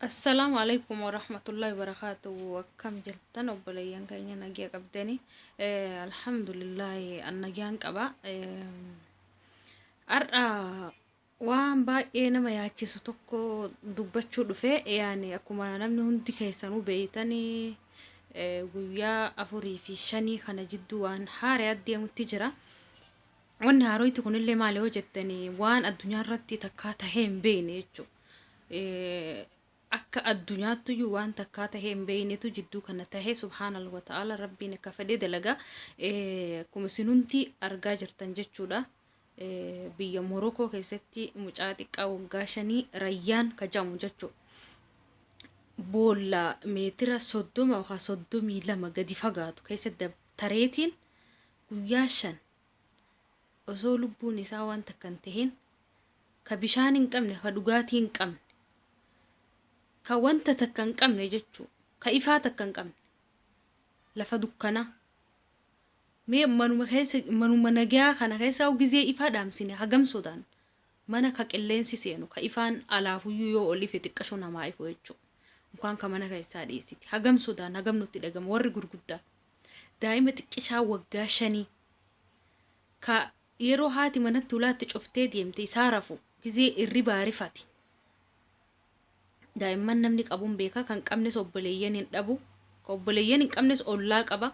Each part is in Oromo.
Assalaamu alaikum warahmatullahi wabarakatuh akkam jirtan obboleeyyan keenya nagiya qabdanii alhamdulillahi an nagiyaan qaba har'a waan baay'ee nama yaachisu tokko dubbachuu dhufe yaani akkuma namni hundi keessanuu beeytanii guyyaa afurii fi shanii kana jidduu waan haaree addeemutti jira wanni haaroyti kunillee maali yoo jettanii waan addunyaa irratti takkaa tahee hin beeyne jechuudha akka addunyaattuyyuu waan takkaa tahee hin beeynetu jidduu kana tahee subhaanal wa ta'ala rabbiin akka fedhe dalaga akkuma sinumti argaa jirtan jechuudha biyya morokoo keessatti mucaa xiqqaa waggaa shanii rayyaan kajamu jechuu boolla meetira soddoma yookaan soddomii lama gadi fagaatu keessa tareetiin guyyaa shan osoo lubbuun isaa waan takkan taheen ka bishaan hin qabne ka dhugaatii hin qabne ka wanta takka hin qabne jechuu ka ifaa takka hin qabne lafa dukkanaa mee manuma keessa manuma nagaa kana keessa gizee ifaa dhaamsine hagam sodaan mana ka qilleensi seenu ka ifaan alaafuyyuu yoo ol ife xiqqashoo namaa ifu jechuu mukaan ka mana keessaa dhiyeessiti hagam sodaan hagam nutti dhagama warri gurguddaa daa'ima xiqqishaa waggaa shanii ka Yeroo haati manatti ulaa itti cuftee deemte isaa rafu gizee irribaa rifate. Daa'imman namni qabuun beeka kan qabnes obboleeyyan hin dhabu. Kan obboleeyyan hin qabnes ollaa qaba.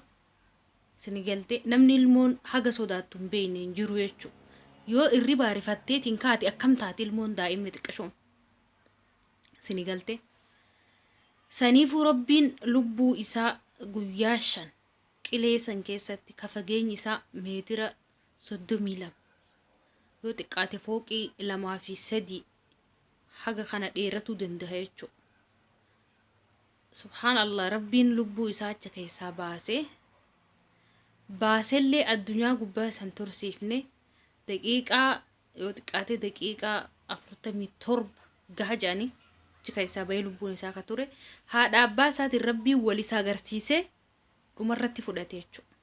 Sini galte namni ilmoon haga sodaattu hin beekne hin jiru jechuudha. Yoo irribaa rifatteetiin kaate akkam taati ilmoon daa'imni xiqqishoon. Sini galte. Saniifuu rabbiin lubbuu isaa guyyaa shan qilee san keessatti ka fageenyi isaa meetira 32 yoo xiqqaate fooqii lamaa fi sadii haga kana dheeratuu danda'a jechuudha. Subhaan Allah rabbiin lubbuu isaa acha keessaa baase baasellee addunyaa gubbaa san tursiifne daqiiqaa yoo xiqqaate daqiiqaa 47 gaha jedhanii achi keessaa bahee lubbuun isaa ka ture haadha abbaa isaatiin rabbiin wal isa agarsiisee dhumarratti fudhate jechuudha.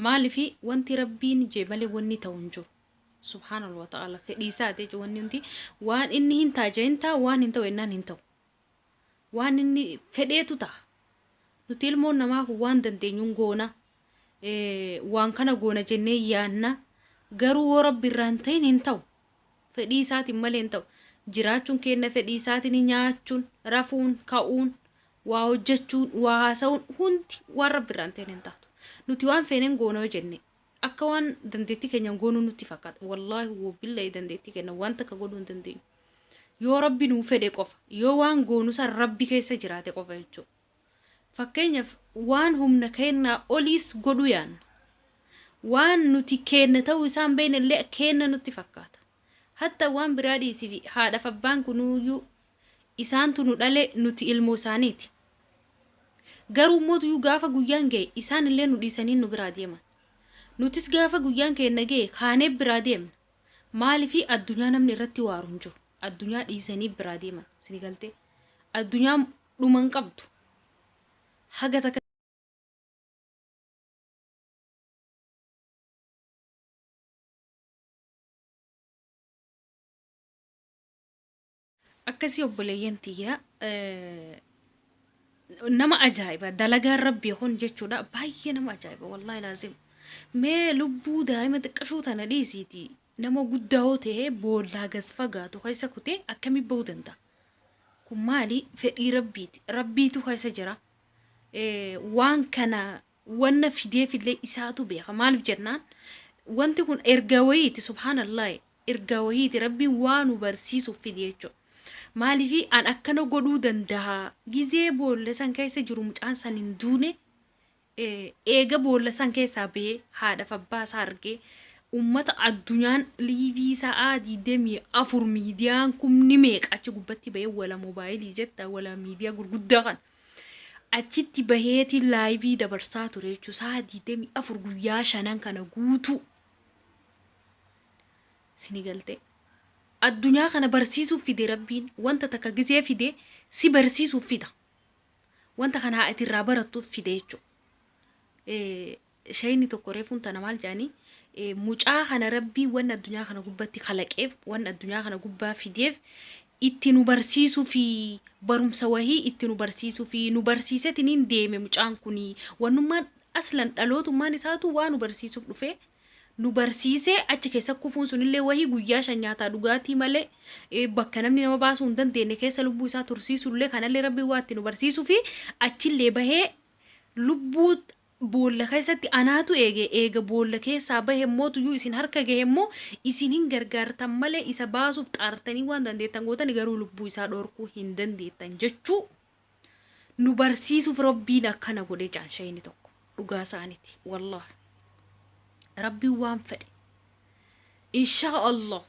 Maaliif wanti rabbiin jee malee wanni ta'u hin jiru. Subhaanallah wa ta'ala fedhii isaati jechuudha wanni hundi waan inni hin taaja hin ta'a waan hin ta'u ennaan hin ta'u. Waan inni fedheetu ta'a. Nuti ilmoon namaa kun waan dandeenyuun goona. Eh, waan kana goona jennee yaanna. Garuu yoo rabbi irraa hin ta'in hin ta'u. Fedhii isaatiin malee hin ta'u. Jiraachuun keenna fedhii isaatini nyaachuun, rafuun, ka'uun, waa hojjachuun, waa haasa'uun hundi waan Rabbi irraa hin ta'in hin taatu. Nuti waan feeneen goona yoo jenne akka waan dandeettii keenyaan goonuu nutti fakkaata. Wallaahi wobbillahi dandeettii keenna waan takka godhuu hin dandeenyu. Yoo Rabbi nuu fedhe qofa, yoo waan goonu san Rabbi keessa jiraate qofa jechuudha. Fakkeenyaaf waan humna keennaa oliis godhuu yaanna. Waan nuti keenna ta'uu isaa hin beekne illee keenna nutti fakkaata. Hatta waan biraa dhiisifi haadhaaf abbaan kunuuyyuu isaantu nu dhale nuti ilmoo isaaniiti. Garuu immoo gaafa guyyaan ga'e isaan illee nu dhiisanii nu biraa deeman. Nutis gaafa guyyaan keenna ga'e kaanee biraa deemna. Maaliifi addunyaa namni irratti waaru hin jiru. Addunyaa dhiisanii biraa deeman. Isinii galtee? Addunyaa dhuma hin qabdu haga takka akkasii obboleeyyan tiyya nama ajaa'iba dalagaan rabbii kun jechuudha baay'ee nama ajaa'iba wallaahi laazim mee lubbuu daa'ima xiqqashuu tana dhiisiitii Nama guddaa hoo ta'e boollaa gas fagaatu keessa kutee akkamiin ba'uu danda'a? Kun maali? Fedhii Rabbiiti. Rabbiitu keessa jira. Waan kana wanna fideefillee isaatu beeka. Maaliif jennaan? Wanti kun ergaa wayiiti subhaanallah ergaa wayiiti rabbiin waa nu barsiisuuf fide jechuudha. Maaliif an akkana godhuu danda'a? Gizee boolla san keessa jiru mucaan san hin duune eega boolla san keessaa ba'ee haadhaaf abbaa isaa argee uummata addunyaan liivii sa'aa 24 miidiyaan kumni meeqa achi gubbatti ba'ee wala moobaayilii jetta wala miidiyaa gurguddaa kan achitti baheeti laayivii dabarsaa ture jechuun sa'aa 24 guyyaa shanan kana guutuu sini galtee. Addunyaa kana barsiisuuf fide rabbiin wanta takka gisee fide si barsiisuuf fida. wanta kana haa ati irraa barattuuf fide jechuudha. Shayni tokko reefuun tana maal jedhanii mucaa kana rabbii waan addunyaa kana gubbatti kalaqeef waan addunyaa kana gubbaa fideef itti nu barsiisuu fi barumsa wahii itti nu barsiisuu fi nu barsiisetiniin deeme mucaan kuni wannummaan aslan dhalootummaan isaatu waa nu barsiisuuf dhufee nu barsiisee achi keessa kufuun sunillee wahii guyyaa shan nyaataa dhugaatii malee eh, bakka namni nama baasuu hin dandeenye keessa lubbuu isaa tursiisullee kanallee rabbiin waa itti nu barsiisuu fi achillee bahee lubbuu boolla keessatti anaatu eege eega boolla keessaa bahe immoo tuyyuu isin harka gahe immoo isin hin gargaartan malee isa baasuuf xaartanii waan dandeettan gootani garuu lubbuu isaa dhorkuu hin dandeettan jechuu nu barsiisuuf rabbiin akkana godhee jaan shayni tokko dhugaa isaaniti wallah rabbiin waan fedhe inshaa allah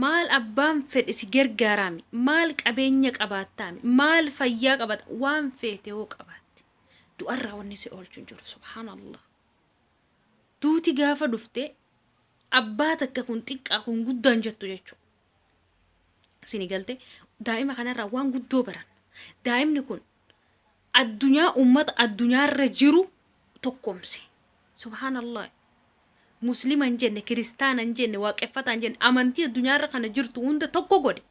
maal abbaan fedhe si gargaaraami maal qabeenya qabaattaami maal fayyaa qabaata waan feete yoo qabaatte du'arraa wanni si oolchu hin jiru subhaanallah duuti gaafa dhufte abbaa takka kun xiqqaa kun guddaan jettu jechuudha Sini galte daa'ima kanarraa waan guddoo baranna. Daa'imni kun addunyaa ummata addunyaarra jiru tokkomse. Subhaanallah. Muslima hin jenne, kiristaana hin jenne, waaqeffataa hin jenne, amantii addunyaarra kana jirtu hunda tokko godhe.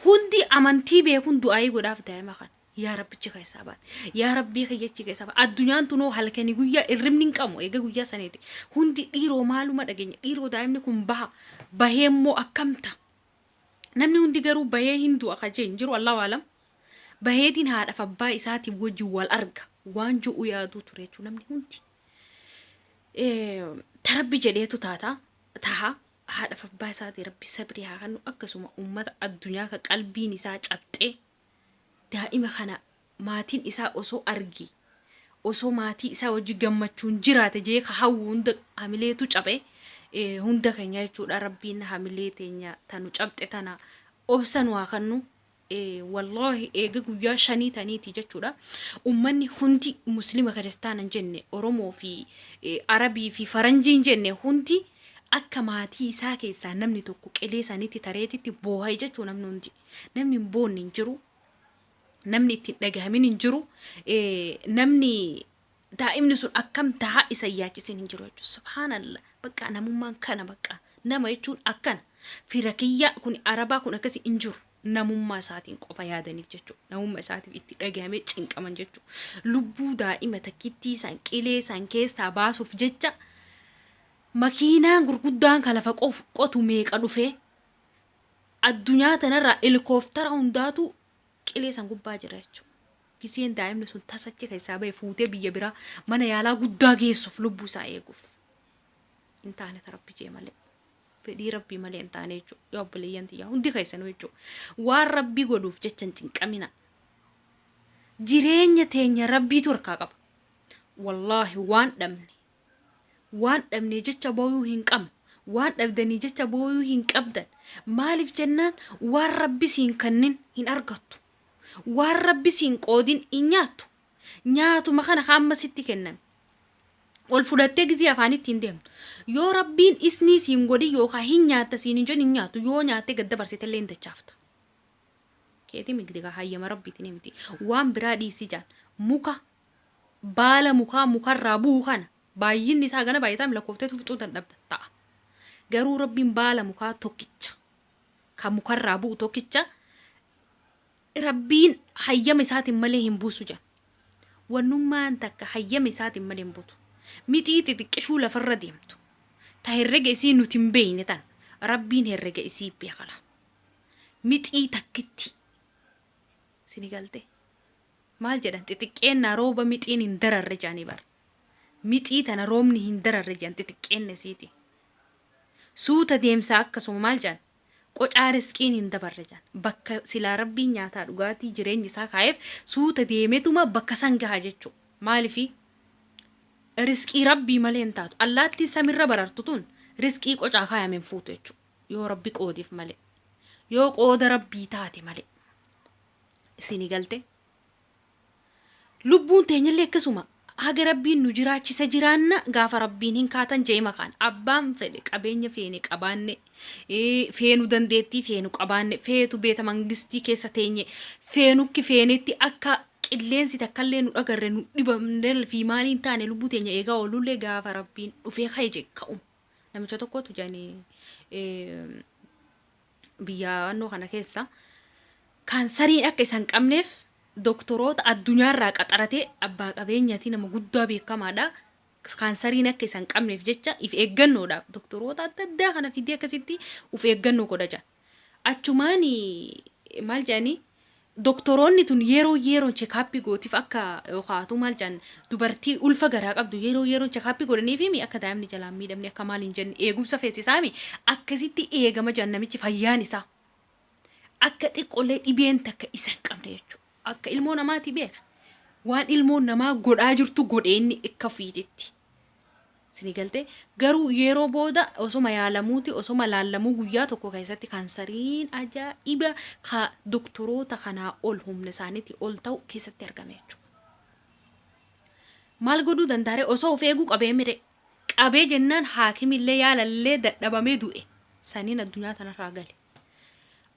Hundi amantii beekun du'aayii godhaaf daa'ima kana. yaa rabbichi keessaa baate yaa rabbii kiyyachi keessaa baate addunyaan tunoo halkanii guyyaa irribni hin qabu eega guyyaa saniiti hundi dhiiroo maaluma dhageenya dhiiroo daa'imni kun baha bahee immoo akkamta namni hundi garuu bahee hin du'a ka jeen jiru allahu alam baheetiin haadhaaf abbaa isaatiin wajjin wal arga waan jo'u yaaduu ture jechuu namni hundi tarabbi jedheetu taata taha haadhaaf abbaa isaatii rabbi sabrii haa kennu akkasuma ummata addunyaa ka qalbiin isaa cabxee daa'ima kana maatiin isaa osoo arge osoo maatii isaa wajji gammachuun jiraate jee ka hawwu hunda hamileetu caphe eh, hunda keenya jechuudha rabbiin hamilee teenya tanu capxe tana obsa nu haa kannu eh, wallaahi eega guyyaa shanii taniiti jechuudha ummanni hundi muslima kiristaana hin jenne oromoo fi eh, arabii fi faranjii hin jenne hundi akka maatii isaa keessaa namni tokko qilee sanitti tareetitti booha'e jechuu namni hundi Namni hin boonne hin jiru. Namni itti hin dhagahamin hin jiru. Eh, Namni daa'imni sun akkam tahaa isa hin yaachisin hin jiru jechuudha. Subhaanallah. Bakka namummaan kana bakka. Nama jechuun akkana. Fira kiyyaa kun arabaa kun akkasii hin jiru. Namummaa isaatiin qofa yaadaniif jechuudha. Namummaa isaatiif itti dhagahamee cinqaman jechuudha. Lubbuu daa'ima takkittii isaan qilee isaan keessaa baasuuf jecha makiinaan gurguddaan kan lafa qof- qotu meeqa dhufee addunyaa tanarraa helikooftara hundaatu qilee san gubbaa jira jechuudha. Giseen daa'imni sun tasachi keessaa bahe fuutee biyya biraa mana yaalaa guddaa geessuuf lubbuu isaa eeguuf. Hin taane ta rabbi jee malee. Fedhii rabbii malee hin taane jechuudha. Yoo obboleeyyan tiyyaa hundi keessanuu jechuudha. Waan rabbii godhuuf jecha hin cinqamina. Jireenya teenya rabbiitu harkaa qaba. Wallaahi waan dhabne waan dhabnee jecha booyuu hin qabnu waan dhabdanii jecha booyuu hin qabdan maaliif jennaan waan rabbi siin kannin hin argattu waan rabbi siin qoodin hin nyaattu nyaatuma kana ka amma sitti kenname ol fudhattee gizii afaanitti hin deemtu yoo rabbiin isnii siin godhin yookaan hin nyaatta siin hin jedhin hin nyaattu yoo nyaattee gad dabarsitellee hin dachaafta keetii migdi kaa hayyama rabbiitiin miti waan biraa dhiisii jaan muka baala mukaa mukarraa bu'u kana baay'inni isaa hagana baay'ataam lakkoftee fixuu dandhabda ta'a. Garuu rabbiin baala mukaa tokkicha kan mukarraa bu'u tokkicha rabbiin hayyama isaatiin malee hin buusu jedha. Wannummaan takka hayyama isaatiin malee hin buutu. Mixii xixiqqishuu lafarra deemtu. Ta herrega isii nuti hin beeyne tan rabbiin herrega isii beekala. Mixii takkitti Sini galtee? Maal jedhan xixiqqeennaa rooba mixiin hin dararre jedhanii bar. Mixii tana roobni hin dararre jedhan xixiqqeenna isiiti. Suuta deemsaa akkasuma maal jedhan qocaa risqiin hin dabarre jedhan. Bakka silaa rabbiin nyaataa dhugaatii jireenyi isaa kaa'eef suuta deemetuma bakka san gaha jechuu. Maalifi? Risqii rabbii malee hin taatu. Allaattiin samirra barartu tun risqii qocaa kaayame hin fuutu jechuu. yoo rabbi qoodeef malee yoo qooda rabbii taate malee isinii galte lubbuun teenyallee akkasuma haga rabbiin nu jiraachisa jiraanna gaafa rabbiin hin kaatan jee makaan abbaan fedhe qabeenya feene qabaanne ee, feenu dandeettii feenu qabaanne feetu beeta mangistii keessa teenye feenukki feenetti akka qilleensi takkallee nu dhagarre nu dhibamne fi maaliin taane lubbuu teenya eegaa oolullee gaafa rabbiin dhufee ka'e jee ka'uma. Namicha tokkotu jedhani biyya annoo kana keessa kaansariin akka isaan qabneef doktoroota addunyaarraa qaxaratee abbaa qabeenyaatii nama guddaa beekamaadha. Kaansariin akka isaan qabneef jecha if eeggannoodhaaf doktoroota adda addaa kana fidee akkasitti of eeggannoo godha jedha. Achumaan maal jedhanii doktoroonni tun yeroo yeroon chekaappii gootiif akka yookaatu maal jedhan dubartii ulfa garaa qabdu yeroo yeroon chekaappii godhaniifiimi akka daa'imni jalaan miidhamne akka maal hin jenne eegumsa feesisaami akkasitti eegama jedhan namichi fayyaan isaa akka xiqqollee dhibeen takka isa hin qabne jechuudha. Akka ilmoo namaati beeka. Waan ilmoon namaa godhaa jirtu godhe inni akka ofiititti. Isinii galtee? Garuu yeroo booda osoma yaalamuuti osoma laallamuu guyyaa tokko keessatti kaansariin ajaa'iba ka doktoroota kanaa ol humna isaaniitii ol ta'u keessatti argame jechuudha. maal godhuu dandaare osoo of eeguu qabee mire qabee jennaan haakimillee yaalallee dadhabamee du'e saniin addunyaa tanarraa gale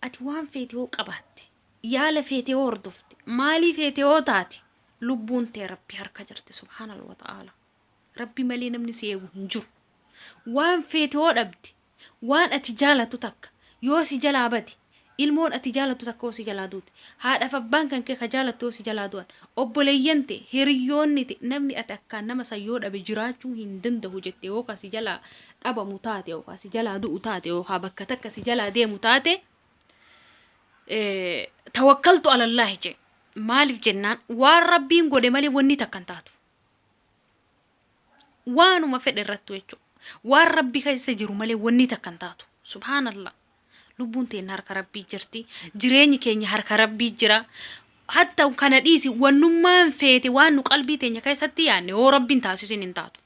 ati waan feete yoo qabaatte yaala feete yoo hordofte maalii feete yoo taate lubbuun tee rabbi harka jirti subhaanallah ta'aala Rabbi malee namni si eegu hin jiru. Waan feete yoo dhabde, waan ati jaalattu takka yoo si jalaa bade, ilmoon ati jaalattu takka yoo si jalaa duute, haadhaaf abbaan kan kee ka jaalattu yoo si jalaa du'an, obboleeyyan tee, hiriyyoonni tee, namni ati akkaan nama san yoo dhabe jiraachuu hin danda'u jette yoo ka si jalaa dhabamu taate yoo ka si jalaa du'u taate yoo ka bakka takka si jalaa deemu taate eh, tawakkaltu alallaahi jee. Maaliif jennaan waan rabbiin godhe malee wanni takka hin taatu. waanuma fedhe irrattu jechuudha. Waan rabbi keessa jiru malee wanni takka hin taatu. Subhaanallah. Lubbuun teenya harka rabbii jirti. Jireenyi keenya harka rabbii jira. Hatta kana dhiisi wannummaan feete waan nu qalbii teenya keessatti yaadne yoo rabbiin taasisin hin taatu.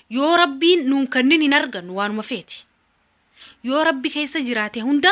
Yoo rabbiin nuun kennin hin argannu waanuma feete. Yoo rabbi keessa jiraate hunda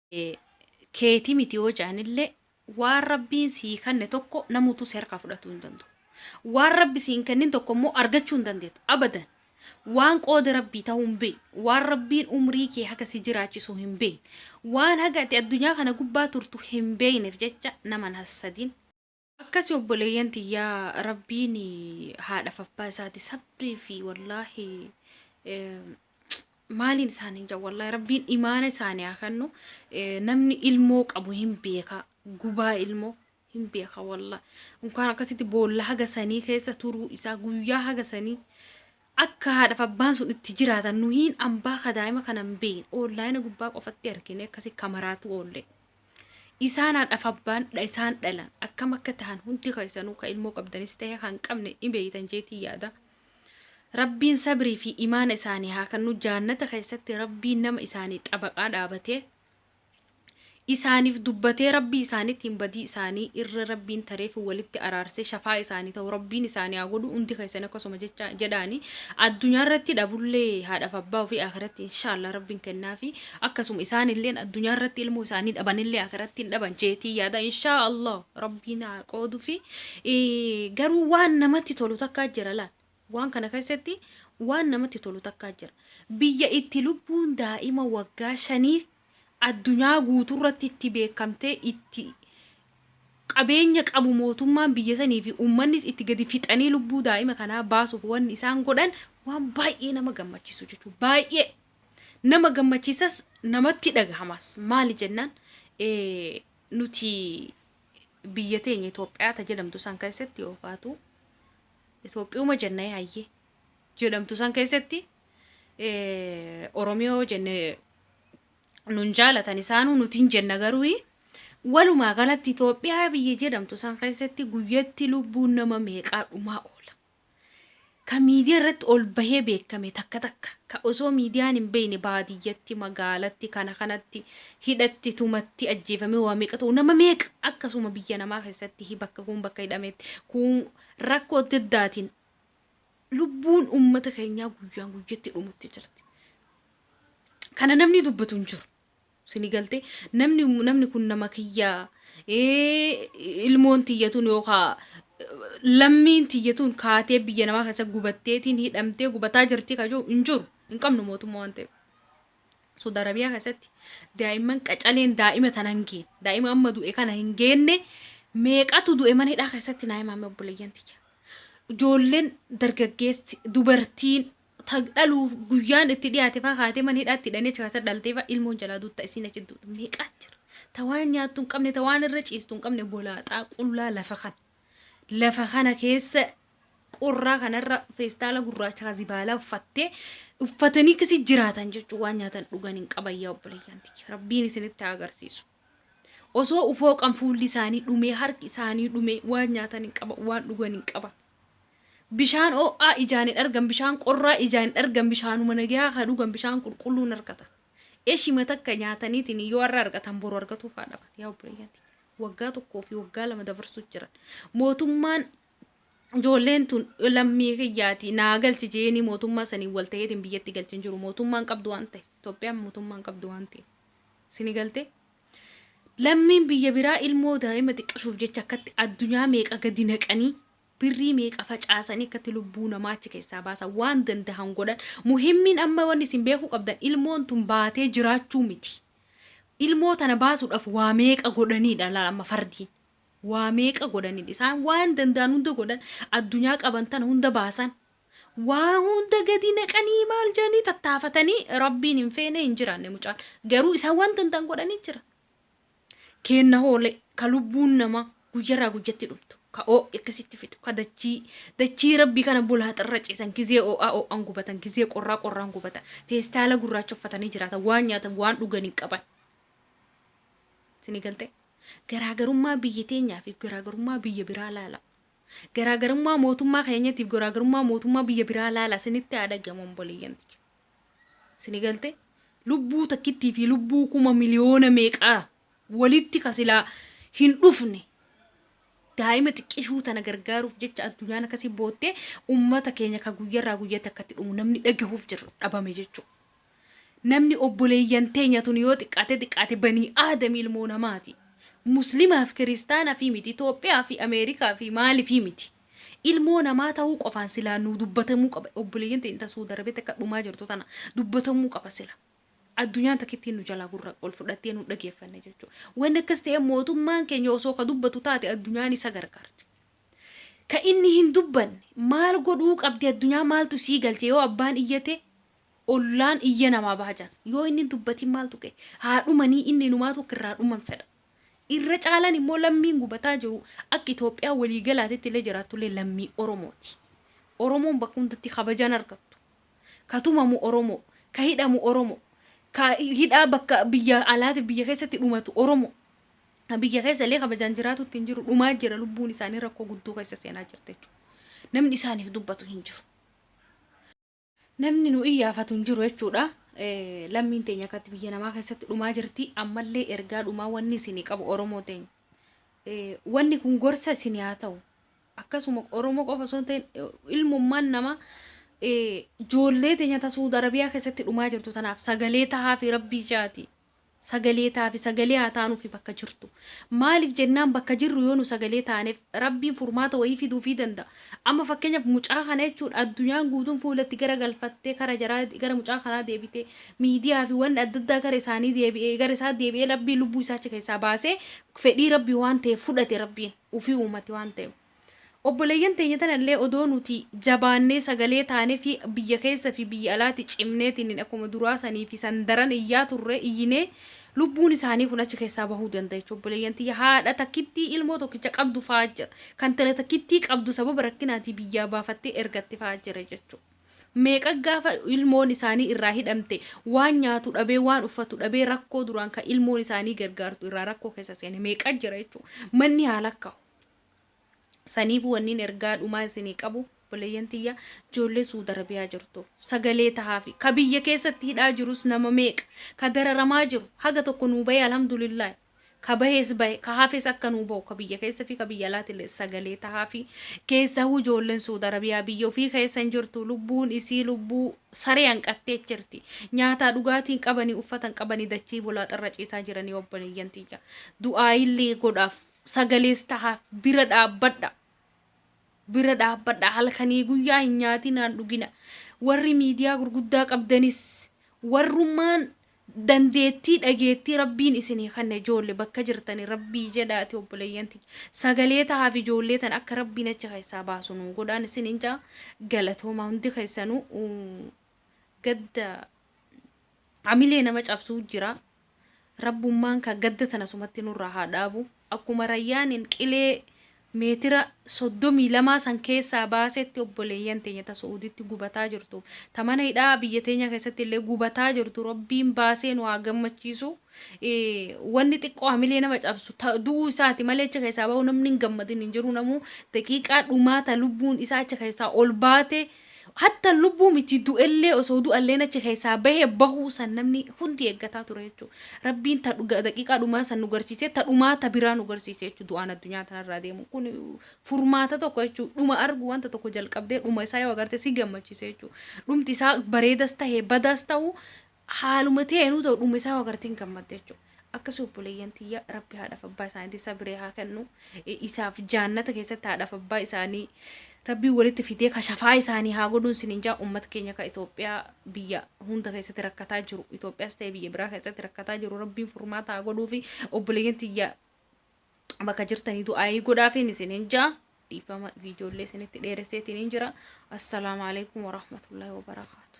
keeti miti yoo jedhanillee waan rabbiin sii kanne tokko namuutu si harkaa fudhatuu hin danda'u. Waan rabbi sii hin kennin tokko immoo argachuu hin dandeettu. Abadan. Waan qooda rabbii ta'uu hin beekne. Waan rabbiin umrii kee haga si jiraachisu hin beekne. Waan haga ati addunyaa kana gubbaa turtu hin beekneef jecha naman hassadin. Akkasi obboleeyyan tiyya rabbiin haadhaf abbaa isaati sabrii fi wallaahi maaliin isaanii jaa wallaahi rabbiin imaana isaanii haa kennu Eh, namni ilmoo qabu hin beeka gubaa ilmoo hin beeka wallaahi unkaan akkasitti boolla haga sanii keessa turuu isaa guyyaa haga sanii akka haadhaf abbaan sun itti jiraatan nuhiin ambaa ka daa'ima kana hin beeyin oonlaayina gubbaa qofatti argine akkasi kamaraatu oollee. Isaanaa dhaf abbaan dha isaan dhalan akkam akka tahan hundi keessanuu ka ilmoo qabdanis ta'e kan qabne ni beeytan jeetii yaada. Rabbiin sabrii fi imaana isaanii haa kennu jaannata keessatti rabbiin nama isaanii xabaqaa dhaabatee isaaniif dubbatee rabbii isaaniitiin badii isaanii irra rabbiin tareef walitti araarsee shafaa isaanii ta'u rabbiin isaanii haa godhu hundi keessan akkasuma jecha jedhaani addunyaa irratti dhabullee haadhaaf abbaa ofii akiratti inshaallah rabbiin kennaa fi Akkasuma isaanilleen addunyaa irratti ilmoo isaanii dhabanillee akiratti hin dhaban jeetii yaada inshaa Allah rabbiin haa qoodufi garuu waan namatti tolu takkaa jira laal waan kana keessatti waan namatti tolu takkaa jira biyya itti lubbuun daa'ima waggaa shanii addunyaa guutuu irratti itti beekamtee itti qabeenya qabu mootummaan biyya sanii fi uummannis itti gadi fixanii lubbuu daa'ima kanaa baasuuf wanni isaan godhan waan baay'ee nama gammachiisu jechuudha baay'ee nama gammachiisas namatti dhagahamas maali jennaan nuti biyya teenya Itoophiyaa ta jedhamtu san keessatti yookaatu Itoophiyuma jenna yaayyee jedhamtu san keessatti Oromiyoo jenne nun jaalatan isaanuu nutiin jenna garuu walumaa galatti Itoophiyaa biyya jedhamtu san keessatti guyyatti lubbuun nama meeqaa dhumaa oola. ka miidiyaa irratti ol bahee beekame takka takka ka osoo miidiyaan hin beeyne baadiyyatti magaalatti kana kanatti hidhatti tumatti ajjeefamee waa meeqa ta'u nama meeqa akkasuma biyya namaa keessatti hi- bakka kuun bakka hidhametti kuun rakkoo adda addaatiin lubbuun uummata keenyaa guyyaan guyyatti dhumutti jirti. Kana namni dubbatu hin jiru. sini galte namni namni kun nama kiyya ilmoon tiyyatuun yookaan lammiin tiyyatuun kaatee biyya namaa keessa gubatteetiin hidhamtee gubataa jirti kajuu hin jiru hin qabnu mootummaa waan ta'eef. Saudi Arabiyaa keessatti daa'imman qacaleen daa'ima tana hin geenne daa'ima amma du'e kana hin geenne meeqatu du'e mana hidhaa keessatti naa himaame obboleeyyan tiyya. Ijoolleen dargaggeessi dubartiin ta dhaluuf guyyaan itti dhiyaate faa kaatee mana hidhaatti hidhanii achi kaasa dhaltee faa ilmoon jalaa duutta isiin achi duutu meeqaa jira ta waan nyaattu hin qabne ta waan irra ciistu hin qabne golaaxaa qullaa lafa kan lafa kana keessa qorraa kanarra feestaala gurraacha ka zibaalaa uffattee uffatanii kasi jiraatan jechuun waan nyaatan dhugan hin qaban yaa obboleeyyanti rabbiin isinitti haa agarsiisu. Osoo ufooqan fuulli isaanii dhumee, harki isaanii dhumee, waan nyaatan hin qaban, waan dhugan hin qaban. Bishaan oo'aa ijaan hin argan, bishaan qorraa ijaan hin argan, bishaanuma nagayaa haa dhugan, bishaan qulqulluu hin argatan. Eshima takka nyaataniitiin yoo har'a argatan boru argatuuf haa dhaban. Yaa obboleeyyati. Waggaa tokkoo fi waggaa lama dabarsuuf jiran. Mootummaan ijoolleen tun lammii kiyyaati naa galchi jeeni mootummaa saniin wal ta'eetiin biyyatti galchi hin jiru mootummaan qabdu waan ta'e Itoophiyaan mootummaan qabdu waan ta'e sini galte lammiin biyya biraa ilmoo daa'ima xiqqashuuf jecha akkatti addunyaa meeqa gadi naqanii birrii meeqa facaasanii akkatti lubbuu namaa achi keessaa baasan waan dandahan godhan muhimmiin amma wanni isin beekuu qabdan ilmoon tun baatee jiraachuu miti ilmoo tana baasuudhaaf waa meeqa godhaniidha laala amma fardiin Waa meeqa godhanin isaan waan danda'an hunda godhan addunyaa qaban tana hunda baasan waa hunda gadi naqanii maal jedhanii tattaafatanii rabbiin hin feene hin jiraanne mucaan garuu isaan waan danda'an godhanii jira. Keenna hoolee ka lubbuun namaa guyyarraa guyyatti dhumtu ka oo'i akkasitti fixu ka dachii dachii rabbii kana bulaaxarra ciisan gizee oo'aa oo'aan gubatan gizee qorraa qorraan gubatan feestaala gurraacha uffatanii jiraatan waan nyaatan waan dhugan hin qaban. Isinii galtee? Garaagarummaa biyya teenyaa fi garaagarummaa biyya biraa laala. Garaagarummaa mootummaa keenyatiif garaagarummaa mootummaa biyya biraa laala isinitti haa dhagahamu obboleeyyan tiyya. Sini galte lubbuu takkittii fi lubbuu kuma miliyoona meeqaa walitti ka silaa hin dhufne daa'ima xiqqishuu tana gargaaruuf jecha addunyaan akkasii boottee ummata keenya ka guyyarraa guyyatti akkatti dhumu namni dhagahuuf jirra dhabame jechuudha. Namni obboleeyyan teenya tun yoo xiqqaate xiqqaate banii aadami ilmoo namaati. Muslimaa fi kiristaana fi miti, Itoophiyaa fi Ameerikaa fi maali fi miti. Ilmoo namaa ta'uu qofaan silaa nuu dubbatamuu qaba. Obboleeyyan teenya ta Suudi Arabiyaatti akka dhumaa jirtu tana dubbatamuu qaba sila. Addunyaan takkittiin nu jalaa gurra ol fudhattee nu dhageeffanne jechuudha. Wanni akkas ta'e mootummaan keenya osoo ka dubbatu taate addunyaan isa gargaarti. Ka inni hin dubbanne maal godhuu qabdi addunyaa maaltu sii galche yoo abbaan iyyate ollaan iyya namaa baha jedhan. Yoo inni hin dubbatin maal tuqe? Haa dhumanii inni inumaatu akka irraa dhuman fedha. Irra caalaan immoo lammiin gubataa jiru akka Itoophiyaa walii galaatitti illee jiraattu illee lammii Oromooti. Oromoon bakka hundatti kabajaan argattu. Ka tumamu Oromoo, ka hidhamu Oromoo, ka hidhaa bakka biyya alaatiif biyya keessatti dhumatu Oromoo. Ka biyya keessa illee kabajaan jiraatutti hin jiru dhumaa jira lubbuun isaanii rakkoo guddoo keessa seenaa jirti jechuudha. Namni isaaniif dubbatu hin jiru. Namni nu iyyaafatu hin jiru jechuudha. Eh, Lammiin teenya akkatti biyya namaa keessatti dhumaa jirti. Ammallee ergaa dhumaa wanni isinii qabu Oromoo teenya. Eh, Wanni kun gorsa isinii haa ta'u. Akkasuma Oromoo qofa osoo hin ta'in eh, ilmummaan namaa eh, joollee teenya ta Suud Arabiyaa keessatti dhumaa jirtu tanaaf sagalee tahaa fi rabbii ishaati. sagalee taafi sagalee haa taanufi bakka jirtu maalif jennaan bakka jirru yoo nu sagalee taanef rabbiin furmaata wayii fiduufii danda'a amma fakkeenyaf mucaa kana jechuudha addunyaan guutuun fuula itti gara galfattee kara jaraa gara mucaa kanaa deebitee miidiyaafi wanni adda addaa gara isaanii deebi'ee gara isaa deebi'ee rabbiin lubbuu isaa achi keessaa baasee fedhii rabbii waan ta'eef fudhate rabbiin ufii uumate waan ta'eef Obboleeyyan teenya tanallee odoo nuti jabaannee sagalee taanefii biyya keessa fi biyya alaatti cimneetiin akkuma duraa sanii fi san daran iyyaa turre iyyinee lubbuun isaanii kun achi keessaa bahuu danda jechu obboleeyyan tiyya haadha takkittii ilmoo tokkicha qabdu fa'aa jira kan tala takkittii qabdu sababa rakkinaatii biyyaa baafattee ergatte fa'aa jira jechu meeqa gaafa ilmoon isaanii irraa hidhamte waan nyaatu dhabee waan uffatu dhabee rakkoo duraan kan ilmoon isaanii gargaartu irraa rakkoo keessa seene meeqa jira jechu manni haa lakkaa'u Saniifuu wanniin ergaa dhumaa isinii qabu obboleeyyan tiyya ijoollee Suud Arabiyaa jirtuuf sagalee tahaafi. Ka biyya keessatti hidhaa jirus nama meeqa ka dararamaa jiru haga tokko nuu bahee alhamdulillaahi. Ka bahees bahe ka hafes akka nuu bahu ka biyya keessa fi ka biyya alaatillee sagalee tahaafi. Keessahuu ijoolleen Suud Arabiyaa biyya ofii keessa hin jirtu lubbuun isii lubbuu saree hanqattee jirti. Nyaataa dhugaatii hin qabanii uffata hin qabanii dachii bulaaxarra ciisaa jiranii obboleeyyan tiyya. Du'aayillee godhaaf sagalees tahaaf bira dhaabbadha bira dhaabbadha halkanii guyyaa hin nyaatinaan dhugina warri miidiyaa gurguddaa qabdanis warrummaan dandeettii dhageettii rabbiin isinii kanne ijoolle bakka jirtani rabbii jedhaati obboleeyyanti sagalee tahaaf ijoollee tan akka rabbiin achi keessaa baasu nu godhaan isin hin jaa galatoomaa hundi keessanuu uu, gadda hamilee nama cabsuu jira Rabbummaan kaa gadda tana sumatti nurraa haa dhaabu. Akkuma Rayyaaniin qilee meetira 32 san keessaa baasetti obboleeyyan teenya ta Su'uuditti gubataa jirtu. Ta mana hidhaa biyya teenya keessatti illee gubataa jirtu Rabbiin baasee nu haa gammachiisu. Wanni xiqqoo hamilee nama cabsu ta du'uu isaati malee achi keessaa bahu namni hin gammadin hin jiru namuu daqiiqaa dhumaa ta lubbuun isaa achi keessaa ol baate Hatta lubbuu miti du'ellee osoo du'alleen achi keessaa bahee bahuu san namni hundi eeggataa ture jechuudha. Rabbiin ta dhuga- daqiiqaa dhumaa san nu garsiisee ta dhumaa ta biraa nu garsiise jechuudha du'aan addunyaa tanarraa deemu. Kun furmaata tokko jechuudha. Dhuma argu wanta tokko jalqabdee dhuma isaa yoo agarte si gammachiisa jechuudha. Dhumti isaa bareedas tahe badaas tahu haaluma teenuu ta'u dhume isaa wagartiin gammadde jechuudha. Akkasii obboleeyyan tiyya rabbi haadhaaf abbaa isaaniitti sabiree haa kennu isaaf jaannata keessatti haadhaaf abbaa isaanii rabbii walitti fidee kashafaa isaanii haa godhuun sinin jaa uummata keenya ka Itoophiyaa biyya hunda keessatti rakkataa jiru Itoophiyaas ta'e biyya biraa keessatti rakkataa jiru rabbiin furmaata haa godhuu fi obboleeyyan tiyya bakka jirtanii du'aayii godhaafiin isinin jaa dhiifama viidiyoollee isinitti dheeresseetiin jira assalaamu alaikum warahmatullaahi wabarakaatu